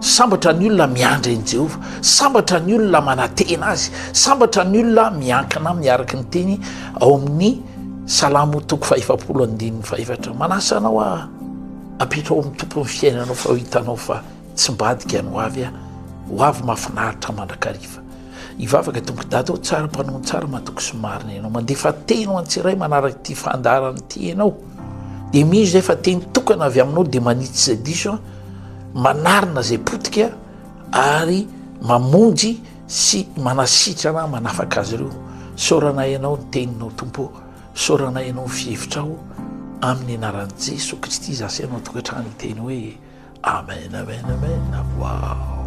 Sambatra ny olona miandry an'i Jehovah, sambatra ny olona manantena azy, sambatra ny olona miankina aminy araka ny teny ao amin'ny Salamo toko fahefapolo andininy fahefatra. Manasa anao aho apetraho amin'ny tompon'ny fiainanao fa hitanao fa tsy mbadika ny hoavy aho, hoavy mahafinaritra mandrakariva. Hivavaka tompoko dada ho tsara mpanoa tsara matoky sy marina ianao. Mandefa teny ho antsiray manaraka ity fandaharana ity ianao. Dia mino izay fa teny tokana avy aminao dia manitsy izay diso manarina izay potika ary mamonjy sy manasitrana manafaka azy ireo saorana ianao ny teninao tompo saorana ianao ny fihevitrao amin'ny anaran'i jeso kristy za sy ianao tokantrano iteny hoe amen amen amen wow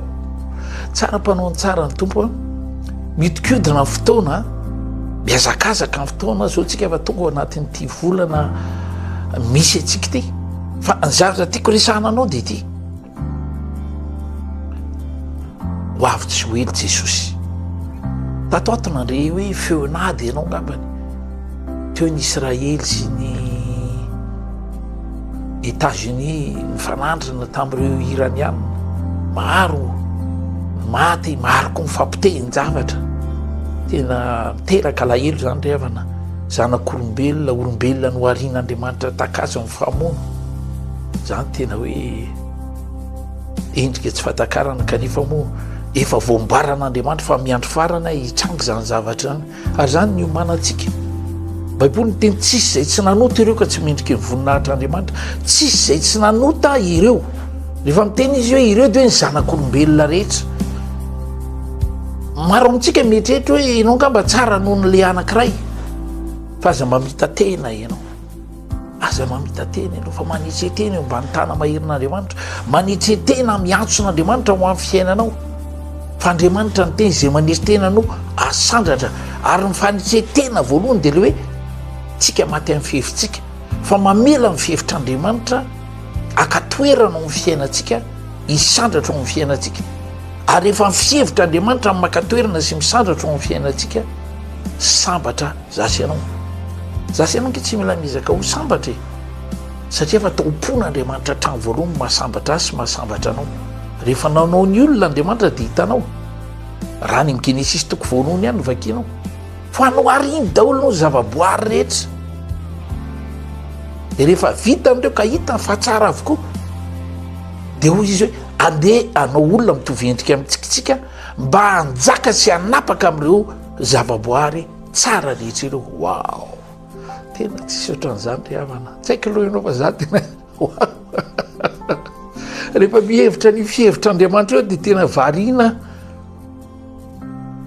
tsara mpanao ny tsara ny tompo a mitikodina ny fotoana miazakazaka ny fotoana zao tsika fa tonga anatin'ity volana misy antsika ity Fa ny zavatra tiako resahana anao dia ity. Ho avy tsy ho ela Jesosy. Tato ato nandre hoe feon'ady ianao ngambany. Teo ny Israely sy ny États-Unis mifanandrina tamin'ireo Iraniana. Maro maty, maro koa mifampitehin-javatra. Tena miteraka alahelo izany ry havana. Zanak'olombelona, olombelona noharian'Andriamanitra takazo Fa moa zany tena hoe endrika tsy fahatakarana kanefa moa efa voambaran'Andriamanitra fa miandry farana hitranga izany zavatra izany ary izany ny omanantsika baiboly ny teny tsisy izay tsy nanota ireo ka tsy mendriky ny voninahitra andriamanitra tsisy izay tsy nanota ireo rehefa miteny izy hoe ireo de hoe ny zanak'olombelona rehetra maro amintsika mieritreritra hoe ianao nga mba tsara noho ny le anankiray fa aza mamita tena ianao Aza mamita-tena ianao, fa manetsetena eo ambany tana maherin'Andriamanitra. Manetsetena miantso an'Andriamanitra ho amin'ny fiainanao. Fa Andriamanitra ny teny izay manetsetena no asandratra. Ary ny fanetsetena voalohany dia le hoe tsika maty amin'ny fihevitsika. Fa mamela amin'ny fihevitr'Andriamanitra akatoerana ao amin'ny fiainantsika, hisandratra ao amin'ny fiainantsika. Ary efa ny fihevitr'Andriamanitra amin'ny makatoerana sy misandratra ao amin'ny fiainantsika, sambatra. Za sy ianao. Za sy ianao ange tsy mila miezaka ho sambatra e. Satria efa tao am-pon'Andriamanitra hatrany voalohany ny mahasambatra azy sy mahasambatra anao. Rehefa nanao ny olona Andriamanitra dia hitanao. Raha any amin'ny Genesisy toko voalohany ihany no vakianao. Fa hanohariny daholo ny zavaboary rehetra. Dia rehefa vita amin'ireo ka hitany fa tsara avokoa. Dia hoy izy hoe andeha anao olona mitovy endrika amin-tsika mba hanjaka sy hanapaka amin'ireo zavaboary Tsara letsy ireo waouh tena tsisy ohatran'izany ry havana tsy haiko aloha ianao fa za tena rehefa mihevitra ny fihevitr'andriamanitra eo dia tena variana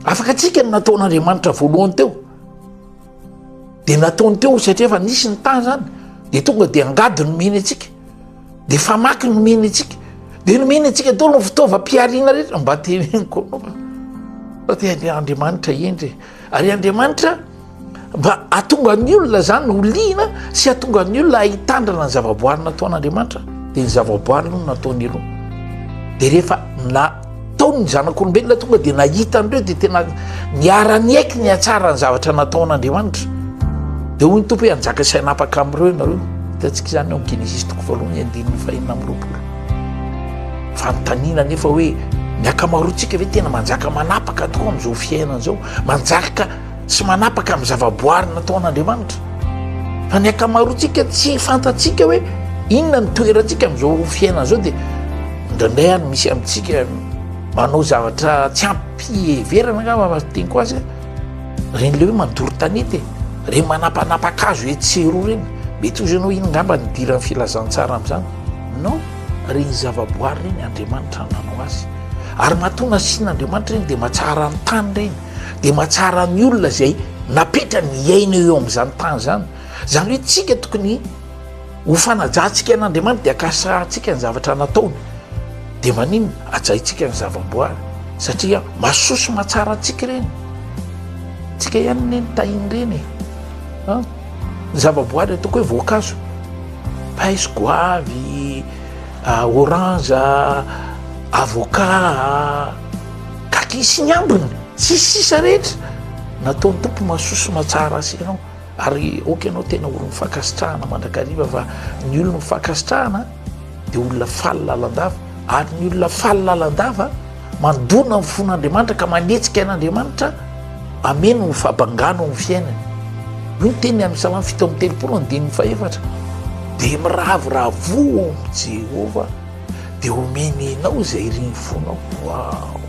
afaka atsika ny nataon'andriamanitra voalohany teo dia nataony teo satria efa nisy ny tany zany dia tonga dia angady nomeny atsika Dia famaky no mihena antsika. Dia no mihena antsika daholo ny fitaovam-pihariana rehetra mba teren'ny kolomana. Fa dia Andriamanitra hendry. Ary Andriamanitra mba atonga ny olona izany ho liana sy atonga ny olona hitandrana ny zavaboary nataon'Andriamanitra. Dia ny zavaboary no nataony aloha. Dia rehefa na Tao ny zanak'olombelona tonga dia nahita an'ireo dia tena niara-niaiky ny hatsara ny zavatra nataon'Andriamanitra. Dia hoy ny tompo hoe hanjaka sy hanapaka amin'ireo ianareo. Hitantsika izany ao amin'ny Genesisy toko voalohany andininy fahenina amby roapolo. Fanontaniana nefa hoe ny ankamaroantsika ve tena manjaka manapaka tokoa amin'izao fiainana izao? Manjaka tsy manapaka amin'ny zavaboary nataon'Andriamanitra fa ny ankamaroantsika tsy fantatsika hoe inona ny toerantsika amin'izao fiainana izao dia indraindray any misy amintsika manao zavatra tsy ampiheverana nga mamasiteniko azy reny le hoe mandoro tanety e reny manapanapakazo hoe tseroa reny mety ozy ianao iny ngamba nidiran'ny filazantsara amin'izany no reny zavaboary reny andriamanitra nanao azy ary matoa nasian'andriamanitra reny dia matsara ny tany reny dia mahatsara ny olona izay napetra ny iaina eo amin'izany tany izany izany hoe tsika tokony ho fanajantsika an'andriamanitra dia akasahantsika ny zavatra nataony dia manina ajaintsika ny zava-boary satria masosy mahatsara antsika ireny tsika ihany ne ny tahin ireny e ah, ny zava-boary ataoko hoe voankazo paiso goavy ah, orange ah, avocat Takia sy ny ambiny sy ny sisa rehetra nataon'ny Tompo mahasoa sy mahatsara azy ianao ary ok ianao tena olon'ny fankasitrahana mandrakariva fa ny olon'ny fankasitrahana dia olona faly lalandava ary ny olona faly lalandava mandona ny fon'Andriamanitra ka manetsika an'Andriamanitra ameno ny fabangana ao amin'ny fiainany io ny teny amin'ny salamo fito amby telopolo ny dimy fahefatra dia miravoravoa ao amin'i Jehovah dia omeny anao izay irin'ny fonao. Waouh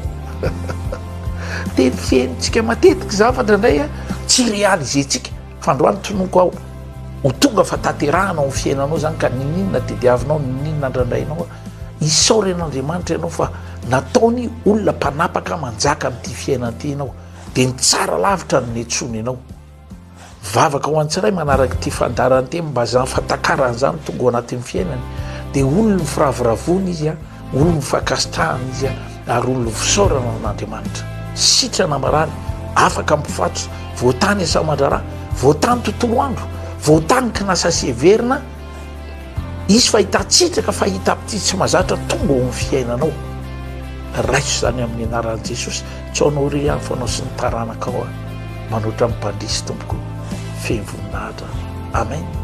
Tetika henontsika matetika zavatra indray tsy réaliser-tsika fa androany tonoko aho ho tonga fa tanterahana ao fiainanao zany ka nininona tediavinao nininona andrandrainao isaoren'andriamanitra ianao fa nataony olona mpanapaka manjaka amin'ity fiainanty ianao dia mitsara lavitra ny netsony ianao Vavaka ho an'ny tsiraiy manaraka ity fandaharan-teny mba zany fa takarany zany tonga ao anatin'ny fiainany dia olon ny firavoravoana izy a olon ny fankasitrahana izy a ary olon ny fisaorana an'Andriamanitra sitrana marary afaka mpifatso voatany asa aman-draharaha voatany tontolo andro voatany kinasa sy heverina Hisy fahitan-tsitaka fahita amin'ity tsy mazatra tonga ao amin'ny fiainanao. Raiso izany amin'ny anaran'i Jesosy. Tsy ao anao irery fa anao sy ny taranakao aho. Manoatra amin'ny mpandresy tompoko. Feno voninahitra. Amen.